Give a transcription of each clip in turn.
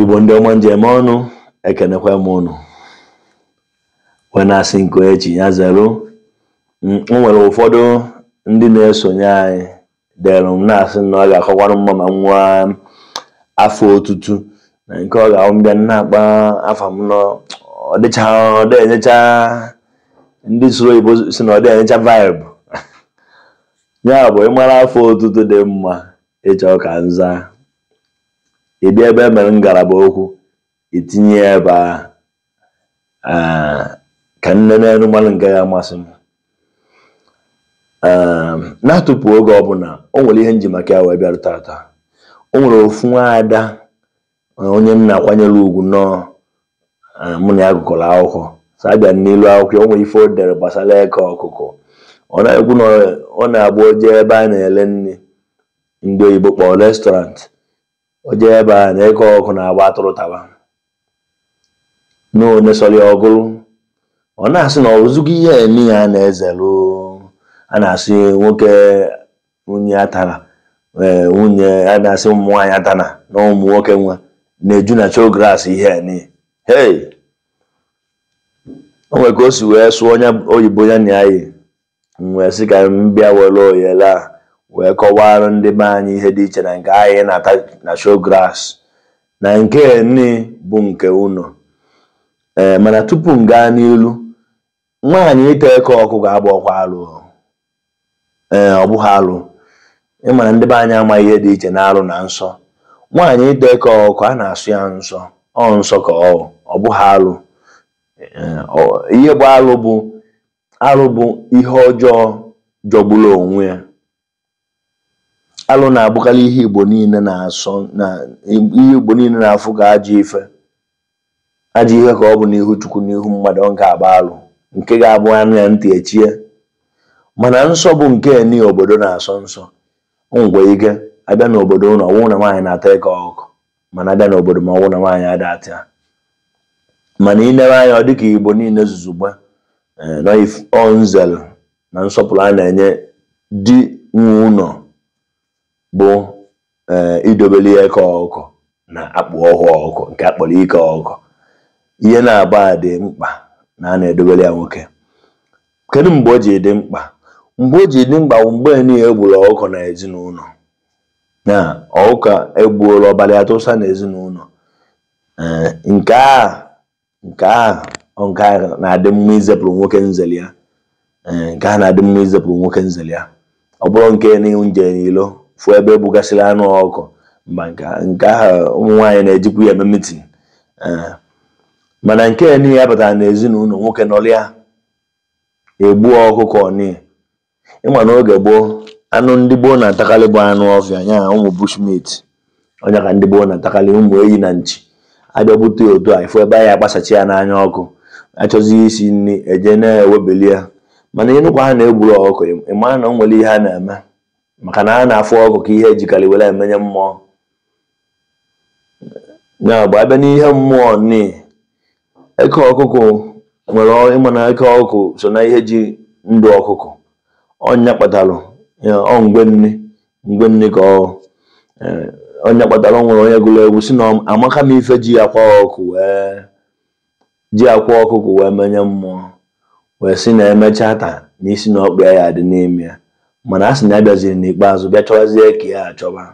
Igbo ndị ọma m ji eme ọnụ ekenekwa m unu wee na-asị nke echi ya zero o nwere ụfọdụ ndị na-esonye anyị dere m na-asị na ọ ga-akakwara mma ma nwee afa otutu na nke ọ ga-abụ m bịa na-akpọ afa m na ọ dịcha ọ dị enyecha ndị sụrụ oyibo sị na ọ dị enyecha vibe ya bụ ị mara afa otutu dị mma ị chọ ka m zaa ị bịa ebe e mere ngalaba okwu itinye ebe a ka m nee n'elu m malụ nke ga-amasị m na-atụpụ oge ọbụla o nwere ihe m ji maka ya wee bịara tata o nwere ofu nwaada onye m na-akwanyere ugwu nnọọ eh, mụ na ya gụkọrọ akwụkwọ so a bịa n'ilu akwụkwọ o nwere ife o dere gbasara eke ọkụkọ ọ na-ekwu na ọ na-abụ o jee ebe a na-ele nri ndị oyibo kpọrọ restaurant o jee ebe a na eke ọkụkọ na-agba atụrụ taba na one sọrọ ya o golu ọ na-asị na o zugo ihe nị a na-ezelụ a na-asị nwoke nwunye ya tara ee nwunye a na-asị ụmụ nwaanyị atana na ụmụ nwoke nwa na-eju na chogras ihe a niile hei o nwere ka o si wee sụnye oyibo ya na ya yi m wee sị ka m bịa were oyele a wee kọwara ndị be anyị ihe dị iche na nke anyị na-ata na show glass na nke ni bụ nke ụnọ ee mana tupu m gaa n'ilu nwaanyị ịta eke ọkụkọ abụrọkwa alụ ee ọ bụghị alụ ị ma na ndị be anyị amaghị ihe dị iche na alụ na nsọ nwaanyị ịta eke ọkụkọ a na-asọ ya nsọ ọ nsọ ka ọ ọ bụghị alụ ihe bụ alụ bụ alụ bụ ihe ọjọọ jọgburu onwe ya alụ na-abụkarị ihe igbo niile na-asọ na ihe igbo niile na-afụ ka ajọ ife ajọ ihe ka ọ bụ n'ihu chukwu n'ihu mmadụ ọ nke a bụ alụ nke ga-abụ a nụ ya ntị echie mana nsọ bụ nke ni obodo na-asọ nsọ o nwere ike a bịa n'obodo unu ọ wụ na nwaanyị na-ata eke ọkụkọ mana a bịa n'obodo m ọ wụ na nwaanyị ada ata ya mana i newe anya ọ dịka igbo niile zuzugbe eh, nọ nzel na nsọpụrụ a na-enye di nwe ụlọ bụ ee eh, idobeli ya eke ọkụkọ na akpụ ọhụ ọkụkọ nke a kpọrọ ike ọkụkọ ihe naabọ a dị mkpa na a na-edobeli ya nwoke kedu mgbe o ji dị mkpa mgbe o ji dị mkpa bụ mgbe niile e gburu ọkụkọ na ezinụlọ na ọkụkọ e gburu ọbara ya tụsa na ezinụlọ eh, nke a nke ahụ nke ahụ na-adị mma izepụrụ nwoke nzeli ya nke ahụ na-adị mma izepụrụ nwoke nzeli ya ọ bụrọ nke ni nje n'ilo fụ ebe ebugasịrị anụ ọkụkọ mba nke ahụ nke ahụ ụmụ nwaanyị na-ejikwu ya eme mitin mana nke ni ya batara n'ezinụlọ nwoke nọrọ ya egbuo ọkụkọ ni ịma na oge gboo anụ ndị gboo na-atakarị bụ anụ ọfịa nya ụmụ bushmeat ọ nya ka ndị gboo na-atakarị ụmụ eyi na nchi abịa bute ya otu a ifụ ebe anyị akpasachi ya n'anya ọkụkọ achọzi isi nri eje na-ewebeli ya mana ịnụkwaa na egburu ọkụkọ ịma na o nwere ihe a na-eme maka na a na-afụ ọkụkọ ka ihe ejikarị were emenye mmụọ ya bụ abịa n'ihe mmụọ ni eke ọkụkụ nwere ịma na eke ọkụkụ so na ihe ji ndụ ọkụkụ ọ nya kpatalụ ọ mgbe niine mgbe niine ka ọ eh, ọ nya kpatara nwere onye gụrụ egwu sị na amaka m ife eji akwa ọkụ wee ji akwa ọkụkụ wee menye mmụọ wee sị na emechaa taa na isi na ọkpa ya ya adị n'ime ya mana a sị na ya bịaziri n'ikpeazụ bịa chọwazie ka ya achọba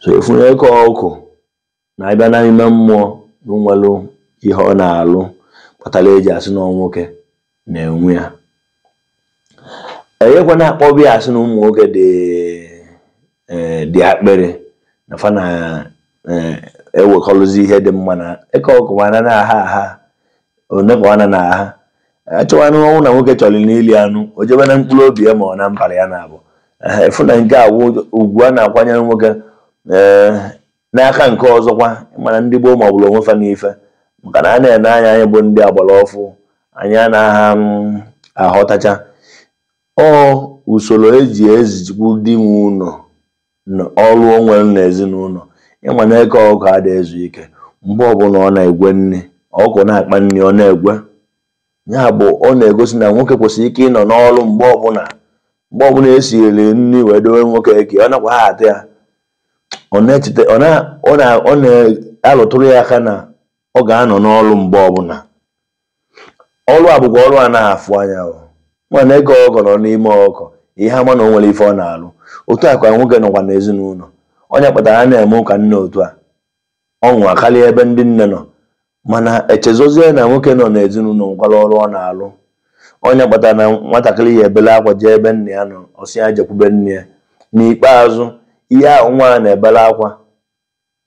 so ịfụ na eke ọkụkọ na abịa na ime mmụọ na o nwere ihe ọ na-alụ kpatara eji asị na nwoke na-enwe ya enyekwa na-akpọbụ ya asị na ụmụ nwoke dị eh, dị akpịrị na fa na-ewekọrọzi eh, e ihe dị mma na eke ọkụkọ mana na-aha aha onepụ ana na ha achọwa anụ ọ wụ na nwoke chọrọ n'ili anụ o jebe na mkpụrụ obi ya ma ọ na mbara ya nya bụ ịfụ na nke a ugwu a na-akwanyere nwoke eh, n'aka nke ọzọkwa mana ndị gboo ma ọ bụrụ onwe fa n'ife maka na a na-ene anya anyị bụ ndị agbara ọfụụ anyị anaghị mm, aghọtacha ọ usoro eji ezikwu di nwe ụlọ ọrụ o nwere n'ezinụlọ ịma na eke ọkụkọ ada ezu ike mgbe ọbụla ọ na-egwe nri ọkụkọ na-akpa nri ọ na-egwe ya bụ ọ na-egosi na nwoke kwesịrị ike ịnọ n'ọrụ mgbe ọbụla mgbe ọbụla esiri nri wee dowe nwoke eke ọ nakwaa ata ya ọ na-echeta ọ na- ọ na- ọ na-alụtụrụ ya aka na ọ ga-anọ n'ọrụ mgbe ọbụla ọrụ a bụkwa ọrụ a na-afụ anya mana eke ọkụkọ nọ n'ime ọkụkọ ị ya-ama na o nwere ife ọ na-alụ otu a ka nwoke nọkwa n'ezinụlọ ọ nya kpatara a na-eme ụka nne otu a ọṅụ akarịa ebe ndị nne nọ mana echezọzie na nwoke nọ n'ezinụlọ nwekwara ọrụ ọ na-alụ ọ nya kpatara na nwatakịrị ya ebele akwa jee ebe nne ya nọ ọ sị ya jekwube nna ya n'ikpeazụ ihe ahụ nwa a na-ebele akwa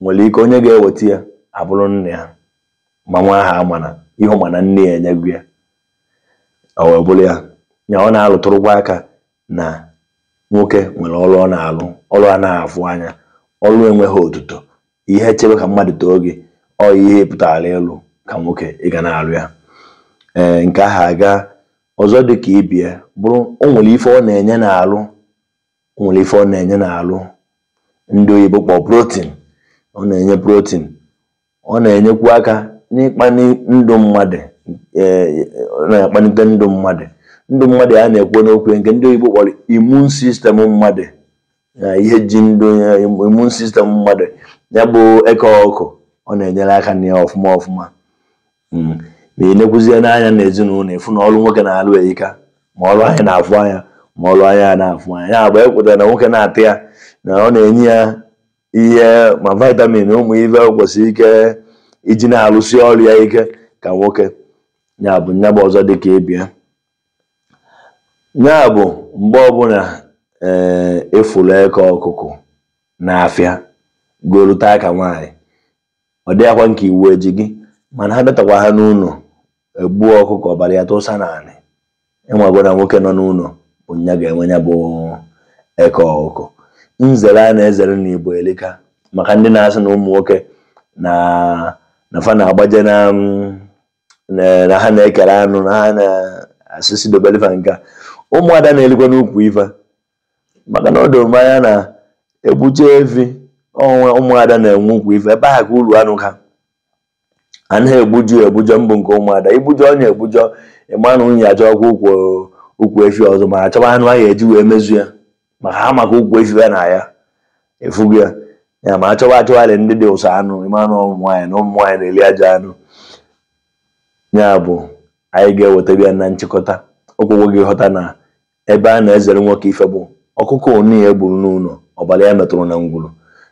nwere ike onye ga-eweta ya abụrụ nne ya ma nwa ahụ amana ihe mana nne ya enyego ya ọ wee bụrụ ya ya ọ na-alụtụrụkwa aka na nwoke nwere ọrụ ọ na-alụ ọrụ a na-afụ anya ọrụ enweghị otuto ihe chebe ka mmadụ too gị ọ ihe pụtara ịlụ ka nwoke ị ga na-alụ ya ee nke ahụ aga ọzọ dị ka ibe ya bụrụ o nwere ife ọ na-enye n'alụ o nwere ife ọ na-enye n'alụ ndị oyibo kpọrọ protein ọ na-enye protein ọ na-enyekwu aka n'ịkpali ndụ mmadụ e, na-akpalite ndụ mmadụ ndụ mmadụ a na-ekwu n'okwu nke ndị oyibo kpọrọ immune system mmadụ na ihe ji ndụ immune system mmadụ ya bụ eke ọkụkọ na-enyere aka na ya ọfụma ọfụma hmm. ma ị nekwuzie n'anya na ezinụlọ ị fụ na ọrụ nwoke na-alụ erika ma ọrụ anyị na-afụ anya ma ọrụ anya na-afụ anya ya bụ ekwetara na nwoke na-ata ya na ọ na-enye ya ihe ma vitamin ụmụ ife kwesịrị ike iji na-alụsi ọrụ ya ike ka nwoke ya bụ nya bụ ọzọ dị ka ibe ya ya bụ mgbe ọbụla ee eh, ị fụrụ eke ọkụkọ n'afịa goru taa ka nwaanyị ọ dịghịkwa nke iwu ji gị mana ha bịatakwa ha n'ụlọ egbuo ọkụkọ ọbara ya tụsa n'anị ị mago na nwoke nọ n'ụlọ bụ nya ga-enwe ya bụ eke ọkụkọ nzere a na-ezere na igbo elika maka ndị na-asị na ụmụ nwoke na na fa na-agbaje na na ha na-ekere anụ na ha na-asị sị dobeli fa nka ụmụada na-elikwanụ ukwu efi maka na ọ doro m anya na egbuje efi ụmụada na-enwe ukwu efi ebe ahụ ka uru anụ ha a naghị egbuju egbujọ mbụ nke ụmụada igbujọ onye egbujọ ịma na nwunye achọkwa ukwu ukwu efi ọzọ ma achọba anụ ahụ eji wee mezu ya maka ha maka ukwu efi ya na ya efugo ya ya ma achọba achọgharị ndị dị ụsọ anụ ịma na ụmụ nwaanyị na ụmụ nwaanyị na-eli aja anụ ya bụ anyị ga-eweta bịa na nchịkọta okwu bụ gị ghọta na ebe a na-ezere nwoke ife bụ ọkụkọ onu ya e gburu n'ụlọ ọbara ya metụrụ na ngwuru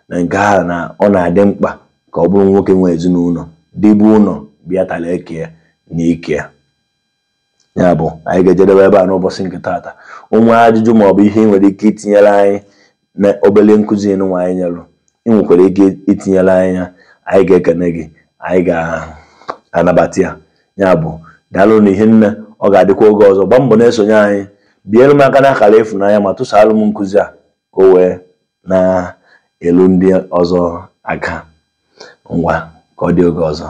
na nke ahụ na ọ na-adị mkpa ka ọ bụrụ nwoke nwe ezinụlọ di bi ụlọ bịa tara eke ya na ike ya ya bụ anyị ga-ejedebe ebe a n'ụbọchị nke taata o nwee ajụjụ maọbụ ihe ị nwere ike itinyere anyị na obere nkụzi nụwa anyị nyelụ ị nwekwara ike itinyere anyị ya anyị ga-ekene gị anyị ga-anabata ya ya bụ daalụ na ihe niine ọ ga-adịkwa oge ọzọ gbaa mbọ na-esonye anyị biere m aka n'akara ịfụnanya ma tụsaalụ m nkụzi a ka o wee na-elu ndị ọzọ aka ngwa ka ọ dị oge ọzọ